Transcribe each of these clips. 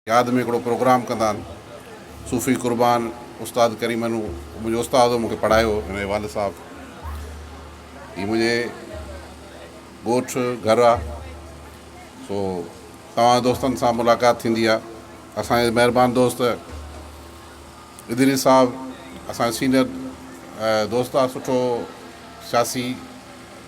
ياد ۾ هڪڙو پروگرام ڪندا آهن صوفي قربان استاد ڪريم هن منهنجو استاد هو مونکي پڙهايو هن جي والد صاحب هي منهنجي ڳوٺ گهر آ سو توهان دوستن سان ملاقات ٿيندي آ اسان جي مهربان دوست ادريس صاحب اسان سينيئر دوست آ سٺو سياسي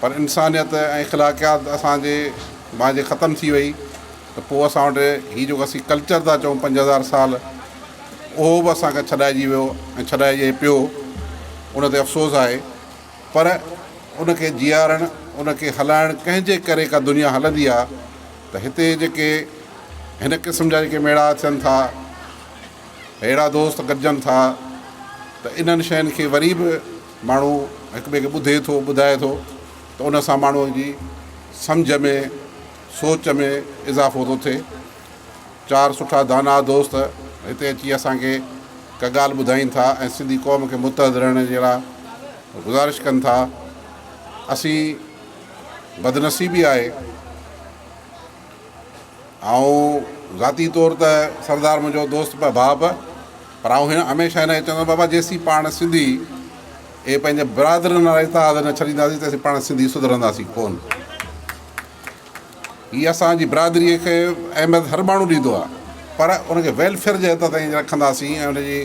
پر انسانيت ۽ اخلاقيات اسان جي مان جي ختم ٿي وئي ته پوء اسان وٽ هي جيڪو اسين ڪلچر ٿا چئون پنج هزار سال اهو به اسان کان ڇڏائجي ويو ۽ ڇڏائجي پيو ان تي افسوس آهي پر ان کي جيارڻ ان کي هلائڻ ڪنهن جي ڪري ڪا دنيا هلندي آهي ته هتي جيڪي هن قسم جا جيڪي ميڙا اچن ٿا اهڙا دوست گڏجن ٿا ته انهن شين کي وري به ماڻهو هڪ ٻئي کي ٻڌي ٿو ٻڌائي ٿو ته ان سان ماڻهو جي سمجهه ۾ سوچ ۾ اضافو ٿو ٿئي چار سٺا داناء دوست هتي اچي اسان کي ڪا ڳالهه ٻڌائين ٿا ۽ سنڌي قوم کي متحد رهڻ جي لاء گذارش ڪن ٿا اسين بدنصيبي آهي آئون ذاتي طور ته سردار منهنجو دوست به ڀاء به پر آئون هن هميشه هن کي چوندو بابا جيسين پاڻ سنڌي اهي پنهنجي برادرين وارا اتحاد نه ڇڏينداسين تيسين پاڻ سنڌي سڌرنداسين ڪون هي اسانجي برادري کي اهميت هر ماڻهو ڏيندو آهي پر ان کي ويلفيئر جي حد تائين رکنداسين ۽ ان جي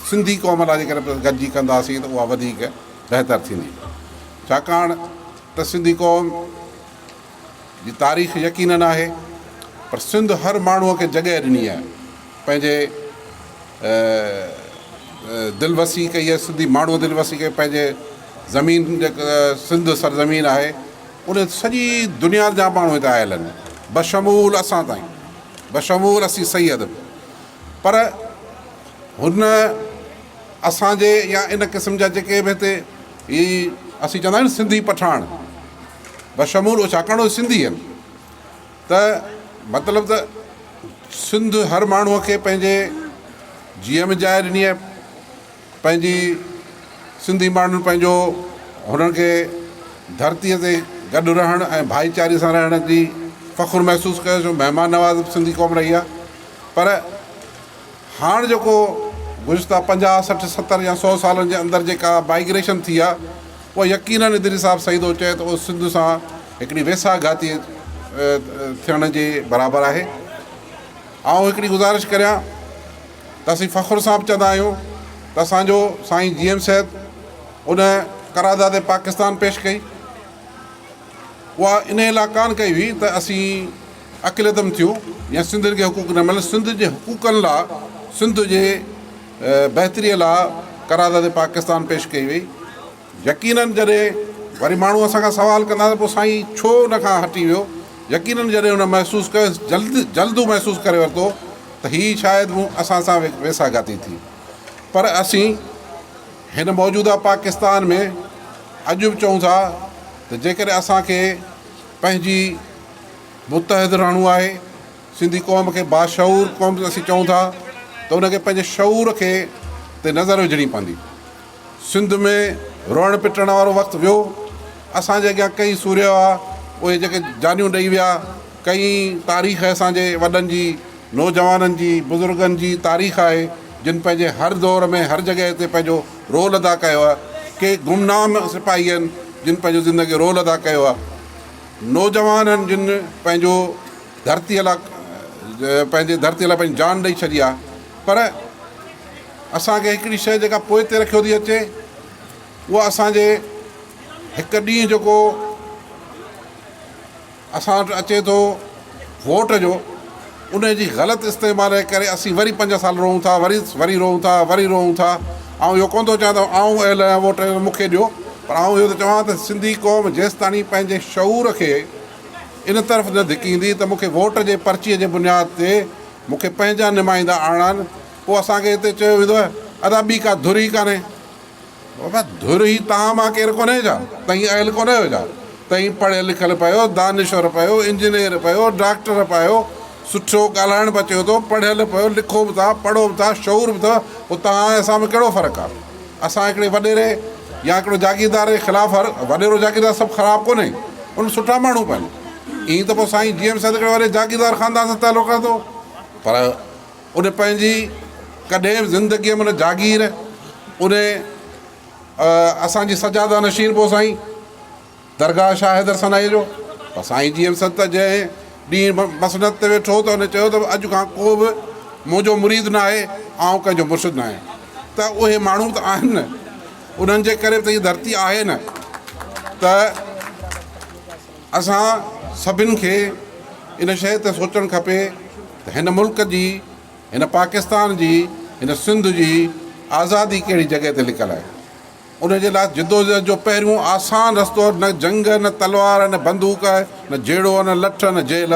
سنڌي قوم لاء جيڪڏهن گڏجي ڪنداسين ته اها وڌيڪ بهتر ٿيندي ڇاڪاڻ ته سنڌي قوم جي تاريخ يقينن آهي پر سنڌ هر ماڻهو کي جڳهه ڏني آهي پنهنجي دل وسي ڪئي آهي سنڌي ماڻهو دل وسي ڪئي پنهنجي زمين جيڪا سنڌ سرزمين آهي ان سڄي دنيا جا ماڻهو هتي آيل آهن بشمول اسان تائين بشمول اسي سيد به پر هن اسانجي يا ان قسم جا جيڪي به هتي هي اسي چوندا آهيون سنڌي پٺاڻ بشمول اهو ڇاڪاڻ اهي سنڌي آهن ته مطلب ته سنڌ هر ماڻهوء کي پنهنجي جيء ۾ جاء ڏني آهي پنهنجي سنڌي ماڻهن پنهنجو هنن کي ڌرتيء تي گڏ رهڻ ۽ ڀائيچاري سان رهڻ جي فخر محسوس ڪيو ڇو مهمان نواز سنڌي قوم رهي آهي پر هاڻ جيڪو گذشته پنجاهه، سٺ، ستر يا سؤ سالن جي اندر جيڪا مائگريشن ٿي آ اها يقينن ادريس صاحب سعيد اوچئي ته اهو سنڌ سان هڪڙي ويساهه گهاتي ٿيڻ جي برابر آهي. آئون هڪڙي گذارش ڪريان ته اسين فخر سان به چوندا آهيون ته اسان جو سائين جي ايم سيد ان قرارداد پاڪستان پيش ڪئي اها انهي لا ڪانه ڪئي هئي ته اسين اقليتن ٿيون يا سنڌين کي حقوق نه ملن سنڌ جي حقوقن لا سنڌ جي بهتري لا قرارداد پاڪستان پيش ڪئي وئي يقينن جڏهن وري ماڻهو اسان کان سوال ڪندا ته پو سائين ڇو ان کان هٽي ويو يقينن جڏهن ان محسوس ڪيو جلد جلد هو محسوس ڪري ورتو ته هي شايد مون اسان سان ويسا گاتي ٿي پر اسين هن موجوده پاڪستان ۾ اڄ به چئون ٿا ته جيڪڏهن اسان کي پنهنجي متحد رهڻو آهي سنڌي قوم کي باشعور قوم اسين چئون ٿا ته ان کي پنهنجي شعور کي تي نظر وجهڻي پوندي سنڌ ۾ روئڻ پٽڻ وارو وقت ويو اسان جي اڳيان ڪئي سوريو آ اهي جيڪي جانيون ڏئي ويا ڪئي تاريخ اسان جي وڏن جي نوجوانن جي بزرگن جي تاريخ آهي جن پنهنجي هر دور ۾ هر جڳهه تي پنهنجو رول ادا ڪيو آ ڪي گمنام سپاهي آهن جن پنهنجو زندگي رول ادا ڪيو آ نوجوانن جن پنهنجو ڌرتيء لاء پنهنجي ڌرتيء لاء پنهنجي جان ڏئي ڇڏي آهي پر اسان کي هڪڙي شيء جيڪا پوئتي رکيو ٿي اچي اها اسان جي هڪ ڏينهن جيڪو اسان وٽ اچي ٿو ووٽ جو ان جي غلط استعمال جي ڪري اسين وري پنج سال رهون ٿا وري وري رهون ٿا وري رهون ٿا آئون اهو ڪونه ٿو چاهيان ته آئون اهل آهيان ووٽ مون کي ڏيو پر آئون اهو ٿو چوان ته سنڌي قوم جيستاڻي پنهنجي شعور کي ان طرف نه ڌڪيندي ته مون کي ووٽ جي پرچي جي بنياد تي مون کي پنهنجا نمائندا آڻڻا آهن پوء اسان کي هتي چيو ويندو ادا ٻي ڪا ڌر ئي ڪانهي بابا ڌر هي تان مان ڪير ڪونهي جا تئين اهل ڪونهي هو جا تئين پڙهيل لکيل پيو دانشور پيو انجنيئر پيو ڊاڪٽر پيو سٺو ڳالهائڻ به اچيو ٿو پڙهيل پيو لکو به ٿا پڙهو به ٿا شعور به اٿو پوء توهان ۽ اسان ۾ ڪهڙو فرق آ اسان هڪڙي وڏيري يا هڪڙو جاگيردار جي خلاف هر وڏيرو جاگيردار سڀ خراب ڪونهي ان سٺا ماڻهو به آهن ائين ته پوء سائين جي ايم سيد هڪڙي وڏي جاگيردار خاندان سان تعلق رکندو پر ان پنهنجي ڪڏهن به زندگيء ۾ نه جاگير ان اسان جي سجاده نشين پو سائين درگاهه شاهه حيدر سنائي جو پر سائين جي ايم سنت جنهن ڏينهن مسند تي ويٺو ته ان چيو ته اڄ کان ڪو به منهنجو مريد نه آهي آئون ڪنهن جو مرشد نه آهيان ته اهي ماڻهو ته آهن نه انهن جي ڪري به ته هي ڌرتي آهي نه ته اسان سڀن کي ان شيء تي سوچڻ کپي ته هن ملڪ جي، هن پاڪستان جي، هن سنڌ جي آزادي ڪهڙي جڳهه تي لڪل آهي. ان جي لاء جدوجهد جو پهريون آسان رستو نه جنگ، نه تلوار، نه بندوق، نه جهيڙو، نه لٺ، نه جيل.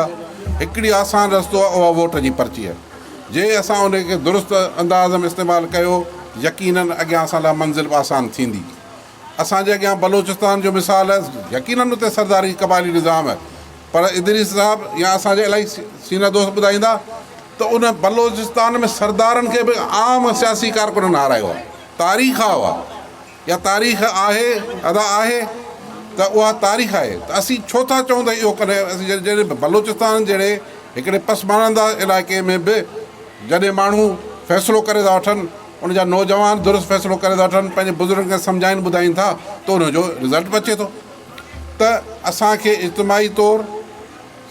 هڪڙي آسان رستو آهي اها ووٽ جي پرچي آهي. جي اسان ان کي درست انداز ۾ استعمال ڪيو يقينن اڳيان اسان لاء منزل به آسان ٿيندي. اسان جي اڳيان بلوچستان جو مثال آهي، يقينن اتي سرداري قبائلي نظام آهي، پر ادريس صاحب يا اسان جا الاهي سينه دوست ٻڌائيندا ته ان بلوچستان ۾ سردارن کي به عام سياسي ڪارڪنن هارايو آهي، تاريخ آهي اها يا تاريخ آهي ادا آهي ته اها تاريخ آهي ته اسين ڇو ٿا چئون ته اهو ڪڏهن اسين جڏهن بلوچستان جهڙي هڪڙي پسمانده علائقي ۾ به جڏهن ماڻهو فيصلو ڪري ٿا وٺن ان جا نوجوان درست فيصلو ڪري ٿا وٺن پنهنجي بزرگن کي سمجهائين ٻڌائين ٿا ته ان جو رزلٽ به اچي ٿو ته اسان کي اجتماعي طور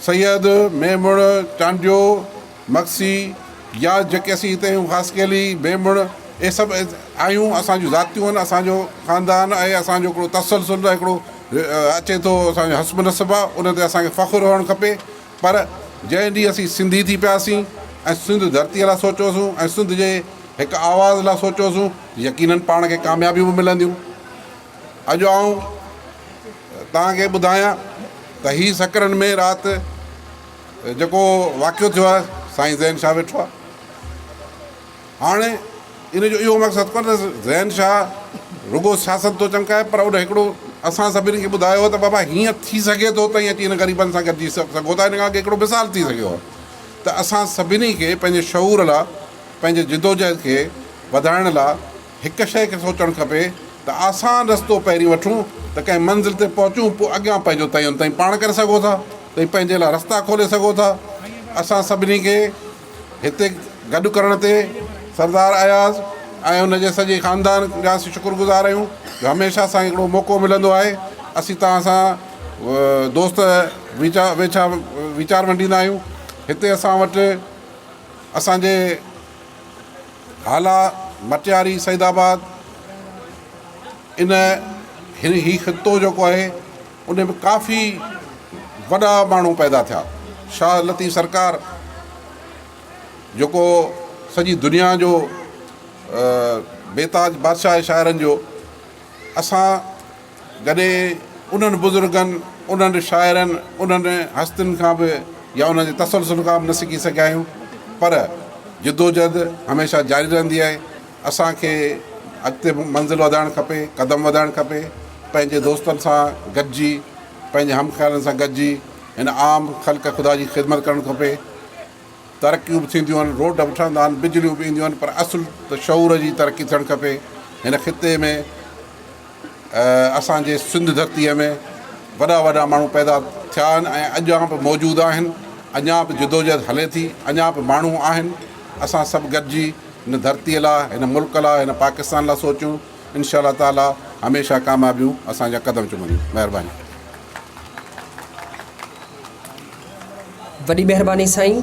سيد ميمڻ چانڊيو مگسي يا جيڪي اسين هتي آهيون خاصخيلي ميمڻ اهي سڀ آهيون اسان جون ذاتيون آهن اسان جو خاندان آهي اسان جو هڪڙو تسلسل هڪڙو اچي ٿو اسان جو حسب نسب آهي ان تي اسان کي فخر هئڻ کپي پر جنهن ڏينهن اسين سنڌي ٿي پياسين ۽ سنڌ ڌرتيء لاء سوچيوسون ۽ سنڌ جي هڪ آواز لاء سوچيوسون يقينن پاڻ کي ڪاميابيون به ملنديون. اڄ آئون توهان کي ٻڌايان ته هي سڪرن ۾ رات جيڪو واقعو ٿيو آهي سائين زين شاهه ويٺو آهي. هاڻ ان جو اهو مقصد ڪو نه ته زين شاهه رڳو سياست ٿو چمڪائي پر ان هڪڙو اسان سڀني کي ٻڌايو هو ته بابا هيئن ٿي سگهي ٿو تئين اچي هن غريبن سان گڏجي سگهو ٿا ان کان اڳي هڪڙو مثال ٿي سگهيو هو ته اسان سڀني کي پنهنجي شعور لا پنهنجي جدوجهد کي وڌائڻ لا هڪ شيء کي سوچڻ کپي ته آسان رستو پهرين وٺون ته ڪنهن منزل تي پهچون پوء اڳيان پنهنجو تعين تئين پاڻ ڪري سگهو ٿا تئين پنهنجي لا رستا کولي سگهو ٿا اسان سڀني کي هتي گڏ ڪرڻ تي سردار اياز ۽ ان جي سڄي خاندان جا اسين شڪر گذار آهيون جو هميشه اسانکي هڪڙو موقعو ملندو آهي اسين توهان سان دوست ويچا ويڇا ويچار ونڊيندا آهيون هتي اسان وٽ اسانجي هالا مٽياري سيد آباد ان هي خطو جيڪو آهي ان ۾ ڪافي وڏا ماڻهو پيدا ٿيا. شاهه لطيف سرڪار جيڪو سڄي دنيا جو بيتاج بادشاهه آهي شاعرن جو، اسان جڏهن انهن بزرگن، انهن شاعرن، انهن هستين کان به يا انهن جي تسلسل کان به نه سکي سگهيا آهيون پر جدوجهد هميشه جاري رهندي آهي. اسان کي اڳتي منزل وڌائڻ کپي، قدم وڌائڻ کپي، پنهنجي دوستن سان گڏجي، پنهنجي هم خيالن سان گڏجي هن عام خلق خدا جي خدمت ڪرڻ کپي. ترقيون به ٿينديون آهن، روڊ به ٺهندا آهن، بجليون به اينديون آهن پر اصل ته شعور جي ترقي ٿيڻ کپي. هن خطي ۾. اسان جي سنڌ ڌرتيء ۾ وڏا وڏا ماڻهو پيدا ٿيا آهن ۽ اڄان به موجود آهن، اڃا به جدوجهد هلي ٿي، اڃا به ماڻهو آهن، اسان سڀ گڏجي هن ڌرتيء لا، هن ملڪ لا، هن پاڪستان لا سوچون، انشاء الله تعاليٰ هميشه ڪاميابيون اسان جا قدم چمنديون. مهرباني. وڏي مهرباني سائين.